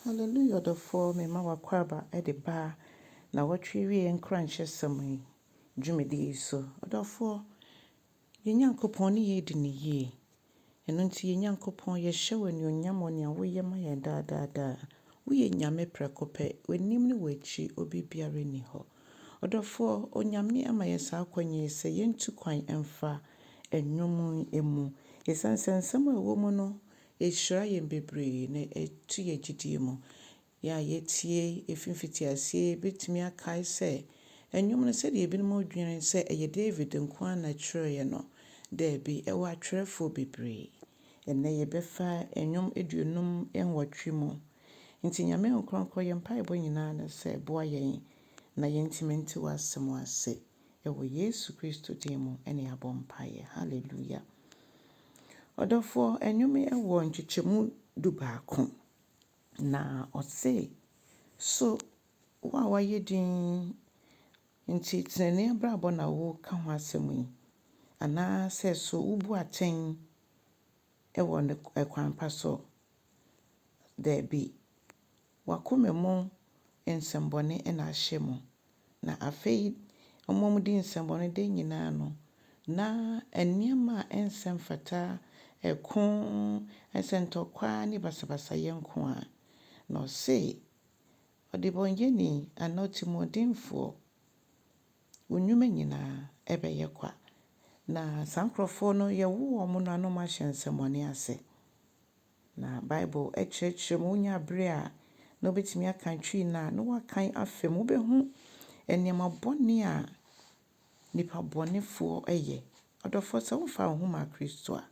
Hallelujah ɔdɔfoɔ mema w'akwaaba de ba nnawɔtwe awieɛ nkuranhyɛsɛm yi dwumadie yi so. Ɔdɔfoɔ, yɛn Nyankopɔn ne yɛn adi no yie. Ɛno nti yɛn Nyankopɔn yɛhyɛ wo anuonyam wɔ nea woyɛ ma yɛn daa daa daa. Woyɛ Nyame prɛko pɛ, w'anim ne w'akyi obi biara nni hɔ. Ɔdɔfoɔ, Onyame ama yɛn saa akwanya yi sɛ yɛntu kwan mfa nnwom yi mu. Ɛsiane sɛ nsɛm a ɛwɔ mu no Ɛhyira yɛn bebree na ɛtu yɛn gyidie mu. Yɛn a yɛatie ɛfiri mfitiaseɛ bɛtumi akae sɛ nnwom no, sɛdeɛ ebinom dwene sɛ ɛyɛ David nko ara na ɔtwerɛeɛ no, daabi, ɛwɔ atwerɛfoɔ bebree. Ɛnnɛ yɛbɛfa nnwom aduonum nwɔtwe mu. Enti Nyame nkorɔnkɔ, yɛn mpaebɔ nyinaa ne sɛ boa yɛn na yɛntumi nte w'asɛm ase. Ɛwɔ Yesu Kristo din mu na yɛabɔ mpaeɛ. Hallelujah. Ɔdɔfoɔ, nnwom yi wɔ nkyekyɛmu dubaako. Na ɔse, So wo a woayɛ din nti tenenee abrabɔ na woreka ho asɛm yi? Anaasɛ so wobu atɛn wɔ kwan pa so? Daabi. W'akoma mu nsɛmbɔne na ahyɛ mu, na afei ɔmamudi nsɛmbɔne da nyina ano, na nneɛma a ɛnsɛ mfata, ɛko, nsɛntɔkwa ne basabasayɛ nko a. Na ɔse, Ɔdebɔnyɛni anaa ɔtimuɔdenfoɔ, wo nnwuma nyina ɛbɛyɛ kwa. Na saa nkorɔfoɔ no yɛwo wɔn no ano ma hyɛ nsɛmmɔne ase. Na Bible kyerɛkyerɛ mu, onya bere a, na obetumi akan Twi no a, na wakan afa mu. Wubehu nneɛma bɔne a nnipa bɔnefoɔ yɛ. Ɔdɔfoɔ, sɛ womfaa wo ho mmaa Kristo a,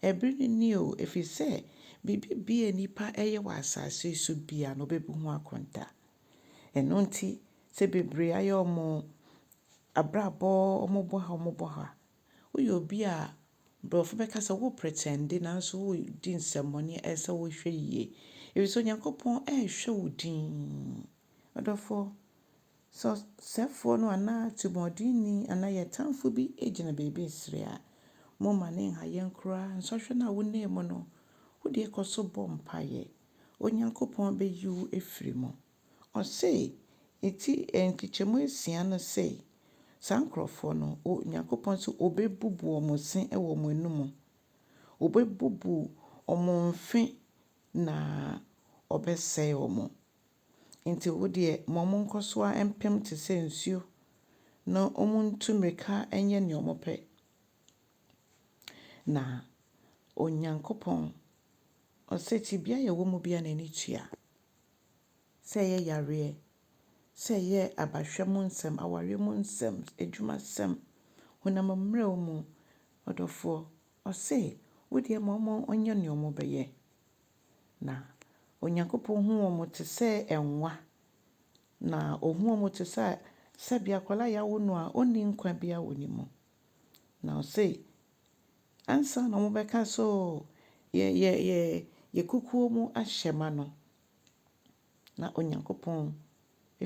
ɛbere no nie o, ɛfiri sɛ biribi biara a nnipa yɛ wɔ asase yi so biara no, wɔbɛbu ho akontaa. Ɛno nti, sɛ bebree ayɛ wɔn abrabɔ, wɔbɔ ha, wɔbɔ ha, Woyɛ obi a Borɔfo bɛka sɛ wo pretɛnde nanso woredi nsɛmmɔne a, ɛsɛ sɛ wohwɛ yie, efisɛ Onyankopɔn rehwɛ wo dinn. Ɔdɔfoɔ, sɛ ɔsɛefoɔ no anaa atirimɔdenni anaa yɛn tamfo bi gyina baabi resere a, momma no nha yɛn koraa. Nsɔhwɛ no a wonam mu no, wo deɛ kɔ so bɔ mpaeɛ. Onyankopɔn bɛyi wo afiri mu. Ɔse, enti nkyekyɛmu asia no se, saa nkurɔfoɔ no, Onyankopɔn se Obebubu wɔn se wɔ wɔn anumu, Obebubu wɔn mfe na Ɔbɛsɛe wɔn. Enti wo deɛ ma wɔn nkɔ so ara mpem te sɛ nsuo, na wɔn ntu mmirika nyɛ nea wɔn pɛ. Na Onyankopɔn, Ɔse, tebea a yɛwɔ mu biara na ani tua. sɛ ɛyɛ yareɛ, sɛ ɛyɛ abahwɛ mu nsɛm, awareɛ mu nsɛm, adwumasɛm, honam mmerɛw mu, ɔdɔfoɔ, ɔse, wo deɛ ma wɔnyɛ deɛ wɔbɛyɛ. Na Onyankopɔn hu wɔn te sɛ nwa, na ɔhu wɔn te sɛ sɛdeɛ akwadaa a yɛawo no a ɔnni nkwa biara wɔ ne mu. Na ɔse, Ansa na wɔbɛka sɛ oo yɛ yɛ yɛ yɛ kukuo mu ahyɛ ma no, na Onyankopɔn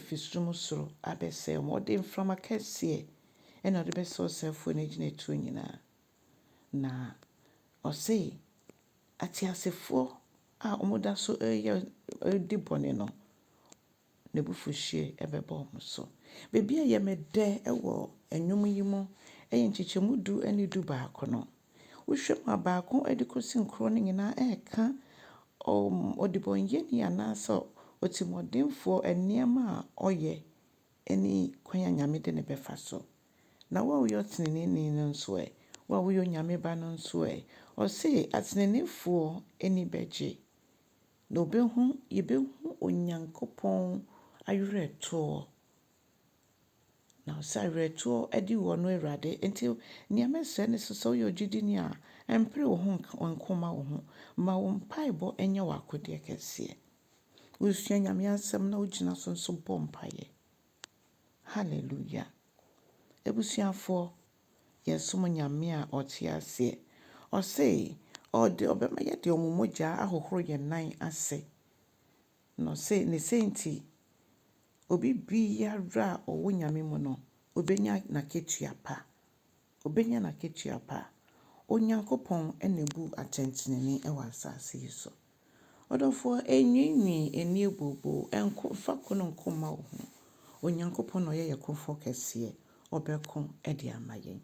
firi sum soro abɛsɛe wɔn. Ɔde mframa kɛseɛ na ɔde bɛsɛe ɔsɛefoɔ no agyinatuo nyinaa. Na ɔse, ateasefoɔ a wɔda so reyɛ redi bɔne no, n'abufuhyeɛ bɛba wɔn so. Baabi a ɛyɛ me dɛ wɔ nnwom yi mu yɛ nkyekyɛmu du ne du baako no. Wohwɛ mu a, baako de kɔsi nkron no nyinaa ɛreka ɔdebɔneyɛni anaasɛ otirimuɔdenfoɔ nneɛma a ɔyɛ ne kwan a Nyame de no bɛfa so. Na wo a woyɛ ɔteneneeni no nso ɛ? Wo a woyɛ Onyame ba no nso ɛ? Ɔse ateneneefoɔ ani bɛgye. Na obehu, yebehu Onyankopɔn awerɛtoɔ. Na ɔsɛ awerɛtoɔ adi wɔ no Awurade. Nti nea mɛsrɛ ne sɛ, sɛ woyɛ ogyidini a, mpere wo ho nko mma wo ho. Ma wo mpaebɔ nyɛ w'akodeɛ kɛseɛ. Wosua Nyame asɛm na wogyina so nso bɔ mpaeɛ. Hallelujah. Abusuafoɔ, yɛsom Nyame a ɔtse ase. Ɔse ɔde ɔbɛma yɛde ɔmo mogyaa ahohoro yɛn nan ase. Na ɔse ne sɛnti, obi biara a ɔwɔ Nyame mu no, obenya n'akatua pa. Obenya n'akatua pa. Onyankopɔn na ebu atɛntrenee wɔ asaase yi so. Ɔdɔfoɔ, ɛnwiinwii, ɛnnie booboo, ɛnko, mfa ko no nko mma wo ho. Onyankopɔn na ɔyɛ yɛn Kofoɔ Kɛseɛ, Ɔbɛko de ama yɛn.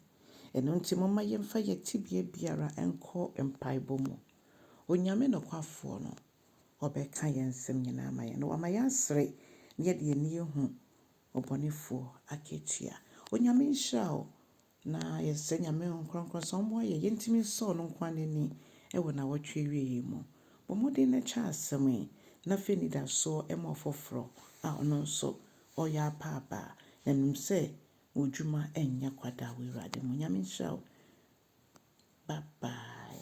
Ɛno nti momma yɛmfa yɛn tebea biara nkɔ mpaebɔ mu. Onyame nokwafoɔ no, Ɔbɛka yɛn nsɛm nyinaa ama yɛn, na Wama yɛasere na yɛde yɛn ani ahu ɔbɔnefoɔ akatua. Onyame nhyira wo, Na yɛsrɛ Nyame Honhom Kronkron sɛ ɔmmoa yɛn yɛntumi nsɔ ɔno nko ara n'ani wɔ nawɔtwe awiei yi mu. Bɔ mmɔden na kyɛ asɛm yi na fa anidasoɔ ma ɔfoforɔ a ɔno nso ɔreyɛ apa aba na nim sɛ wo dwuma nyɛ kwa da wɔ Awurade mu. Nyame nhyira wo. Bye bye.